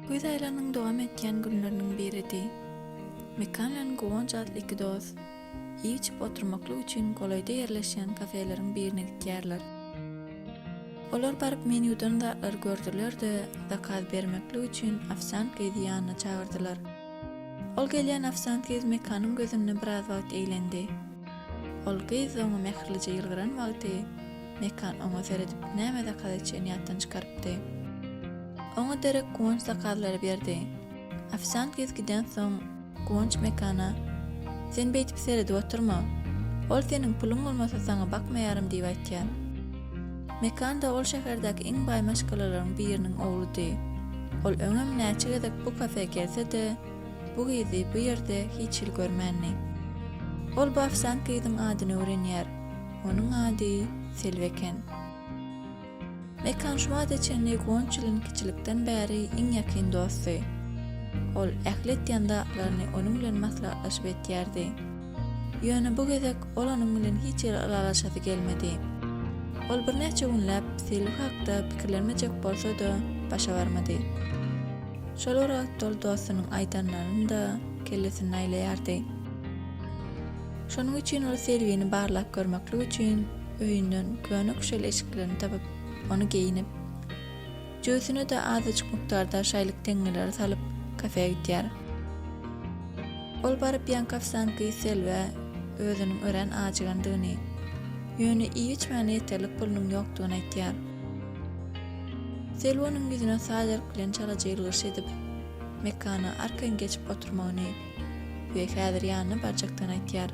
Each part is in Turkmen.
Güýz aýlagynyň dowam etýän günleriniň biridi. Mekan bilen Guwanç atly iki dost iý-içip oturmaklyk üçin golaýda ýerleşýän kafeleriň birine gidýärler. Olar baryp menýudan zatlary gördüler-de, zakaz bermeklik üçin ofsiant gyzy ýanyna çagyrdylar. Ol gelýän ofsiant gyz Mekanyň gözünde biraz wagt eglendi. Ol gyz oňa mähirlije ýylgyran wagty, Mekan oňa seredip näme zakaz etjegini ýatdan çykarypdy. Oňa derek Guwanç zakazlary berdi. Ofsiant gyz gidensoň, Guwanç Mekana, Sen beýdip seredip oturma. Ol seniň puluň bolmasa saňa bakmaýarym diýip aýtýar. Mekanda ol şäherdäki iň baý maşgalalaryň biriniň ogludy. Ol öňem näçe gezek bu kafe gelse-de, bu gyzy bu ýerde hiç hili görmändi. Ol bu ofsiant gyzyň adyny öwrenýär. Onuň ady Selbi eken. Mekan şu wagta çenli Gonçilin kiçilikden bäri iň ýakyn dosty. Ol ähli etýän zatlaryny onuň bilen maslahatlaşyp etýärdi. Ýöne bu gezek ol onuň bilen hiç ýere ylalaşasy gelmedi. Ol birnäçe günläp Selbi hakda pikirlenmejek bolsa-da, başa barmady. Şol bir wagt ol dostunyň aýdanlaryny-da kellesinde aýlaýardy. Şonuň üçin ol Selbini barlap görmeklik üçin öýünden köne küşel eşiklerini tapyp, ony geýinip, Jübüsine-de azajyk mukdarda şaýlyk teňňeleri salyp, kafä gidýär. Ol baryp ýankafsan gyz Selbä özüniň örän ajygandygyny, ýöne iýip-içmäne ýeterlik pulunyň ýokdugyny aýtýar. Selbi onuň ýüzüne sajerk bilen çalaja ýylgyryş edip, mekana arkan geçip oturmagyny we häzir ýanyna barjakdygyny aýtýar.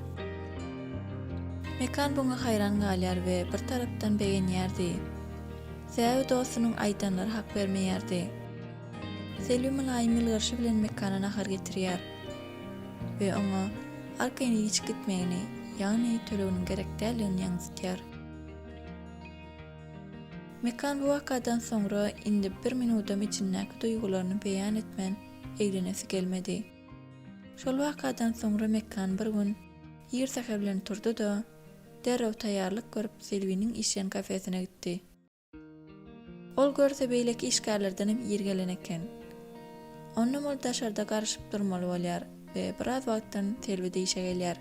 Mekan buňa haýran galýar we bir tarapdan begenýär deý. Säwli dostunyň aýdanlary hak bermeýärdi. Selbi mylaýym ýylgyryşy bilen Mekana nahar getirýär we oňa arkaýyn ilişip gitmegini, ýagny töleginiň gerek däldigini ýaňzytýar. Mekan bu wakadan soňra indi bir minudam içindäki duýgularyny beýan etmän eglenesi gelmedi. Şol wakadan soňra Mekan bir gün ir säher bilen turdy-da, Derrew taýýarlyk görüp, Selbiniň işleýän kafesine gitdi. Ol görse beýleki işgärlerdenem ir gelen eken. Onam ol daşarda garyşyp durmaly bolýar we biraz wagtdan Selbide işe gelýär.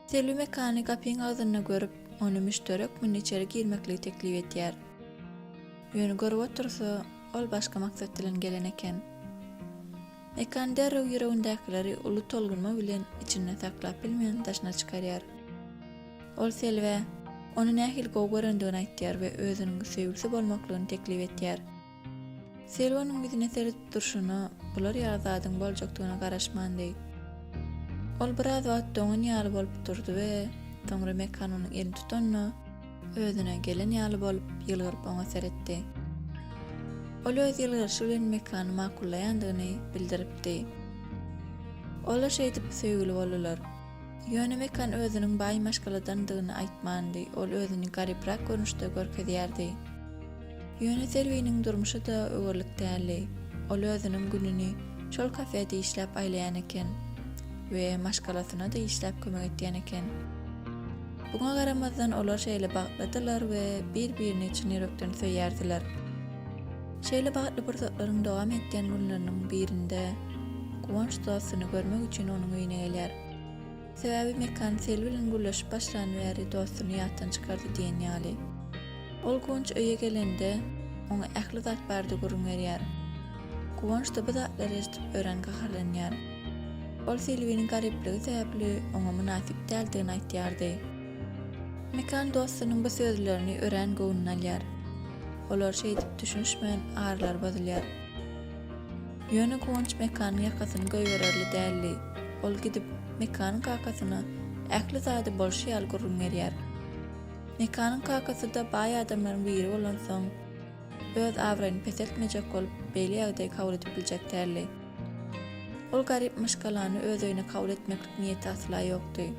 Selbi Mekany gapyň agzynda görüp, ony müşderek munda içeri girmekligi teklip edýär. Ýöne görüp otursa, ol başga maksat bilen gelen eken. Mekan derrew ýüregindäkileri uly tolgunma bilen içinde saklap bilmän daşyna çykarýar. Ol Selbä ony nähili gowy görendigini aýtýar we özüniň söýgüsi bolmaklygyny teklip etýär. Selbi onuň ýüzüne seredip durşuna bular ýaly zadyň boljakdygyna garaşmandy. Ol biraz wagt doňan ýaly bolup durdy we soňra Mekan onuň elini tutanda, Özüne gelen ýaly bolup, ýylgyryp oňa seretdi. Ol öz ýylgyryşy bilen Mekany makullaýandygyny bildiripdi. Olar şeýdip, söýgüli boldular. Ýöne Mekan özüniň baý maşgaladandygyny aýtmandy, ol özüni garyprak görnüşde görkezýärdi. Ýöne Selbiniň durmuşy-da öwerlik däldi. Ol özüniň gününi şol kafede işläp aýlaýan eken we maşgalasyna-da işläp kömek edýän eken. Buňa garamazdan olar şeýle bagtlydylar we bir-birini çyn ýürekden söýýärdiler. Şeýle bagtly pursatlaryň dowam edýän günleriniň birinde Guwanç dostuny görmek üçin onuň öýüne gelýär. Sebäbi Mekan Sel bilen gürleşip başlan bäri dostuny ýatdan çykardy diýen ýaly. Ol Guwanç öýe gelende, oňa ähli zat bardy gürrüň berýär. Guwanç-da bu zatlary eşidip örän gaharlanýar. Ol Selbiniň garypligi sebäpli oňa mynasyp däldigini aýtýardy. Mekan dostunyň bu sözlerini örän göwnüne alýar. Olar şeýdip düşünişmän aralary bozulýar. Ýöne Guwanç Mekanyň ýakasyny goýbererli däldi. Ol gidip, Mekanyň kakasyna ähli zady bolşy ýaly gürrüň berýär. Mekanyň kakasy-da baý adamlaryň biri bolansoň, öz abraýyny peseltmejek bolup, beýle ýagdaýy kabul edip biljek däldi. Ol garyp myşgalany öz öýüne kabul etmeklik niýeti asla ýokdy.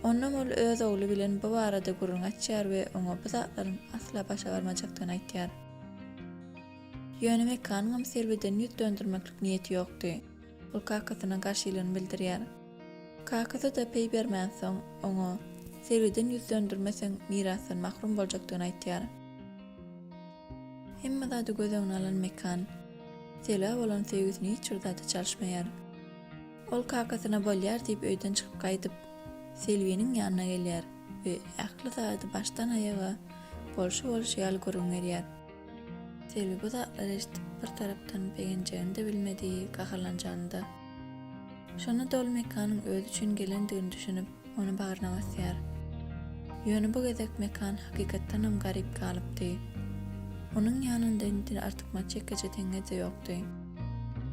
Onnoň ol öz ogly bilen bu barada gürrüň açýar we oňa bu zatlaryň asla başa barmajakdygyny aýtýar. Ýöne Mekanyňam Selbiden ýüz döndürmeklik niýeti ýokdy. Ol kakasyna garşylygyny bildirýär. Kakasy-da peý bermänsoň, oňa, Selbiden ýüz döndürmeseň, mirasdan mahrum boljakdygyny aýtýar. Hemme zady göz öňüne alan Mekan, Selbä bolan söýgüsini hiç bir zada çalyşmaýar. Ol kakasyna bolýar diýip öýden çykyp gaýdyp, Selbiniň ýanyna gelýär we ähli zady başdan-aýaga bolşy-bolşy ýaly gürrüň berýär. Selbi bu zatlary eşidip bir tarapdan begenjegini-de bilmedi, gaharlanjany-da. Şonda doly Mekanyň özi üçin gelendigini düşünip, ony bagryna basýar. Ýöne bu gezek Mekan hakykatdanam garyp galypdy. Onuň ýanynda indi artykmaç ýekeje teňňe-de ýokdy.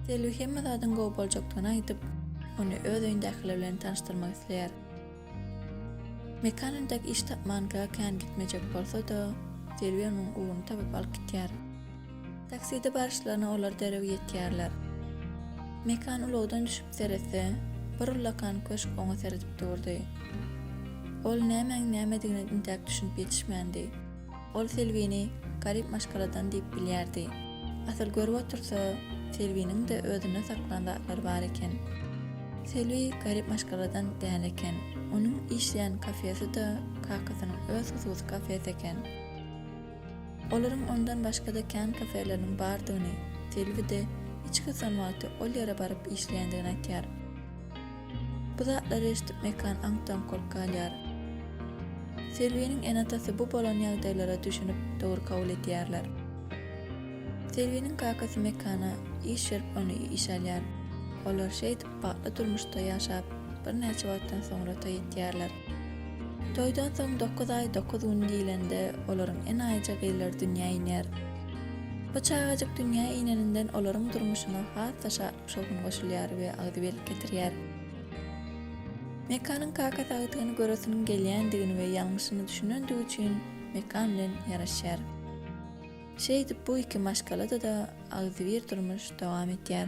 Selbi hemme zadyň gowy boljakdygyny aýdyp, ony öz öýündäkiler bilen tanyşdyrmak isleýär. Mekan entek iş tapmanka kän gitmejek bolsa-da, Selbi onuň ugruny tapyp alyp gitýär. Takside baryşlaryna olar derrew ýetýärler. Mekan ulagdan düşüp seretse, bir ullakan köşk oňa seredip durdy. Ol nämäň nämedigine intäk düşünip ýetişmändi. Ol Selbini garyp maşgaladan diýip bilýärdi. Asyl görüp otursa, Selbiniň-de özünde saklan zatlary bar eken. Selbi garyp maşgaladan däl eken. Onuň işleýän kafesi-de kakasynyň öz hususy kafesi eken. Olaryň ondan başga-da kän kafeleriniň bardygyny, Selbi-de hiç gyssan wagty ol ýere baryp işleýändigini aýtýar. Bu zatlary eşidip Mekan aňkdan korkup galýar. Selbiniň ene-atasy bu bolan ýagdaýlara düşünip, dogry kabul edýärler. Selbiniň kakasy Mekana iş berip ony işe alýar. Olar şeýdip bagtly durmuşda ýaşap, birnäçe wagtdan soňra toý etýärler. Toýdan soň dokuz aý dokuz gün diýlende olaryň enaýyja gyzlary dünýä inýär. Bu çagajyk dünýä ineninden olaryň durmuşyna has-da şatlyk Şol gün goşulýar we agzybirlik getirýär. Mekanyň kakasy agtygyny göresiniň gelýändigini we ýalňyşyny düşünendigi üçin Mekan bilen ýaraşýar. Şeýdip bu iki maşgalada-da agzybir durmuş dowam etýär.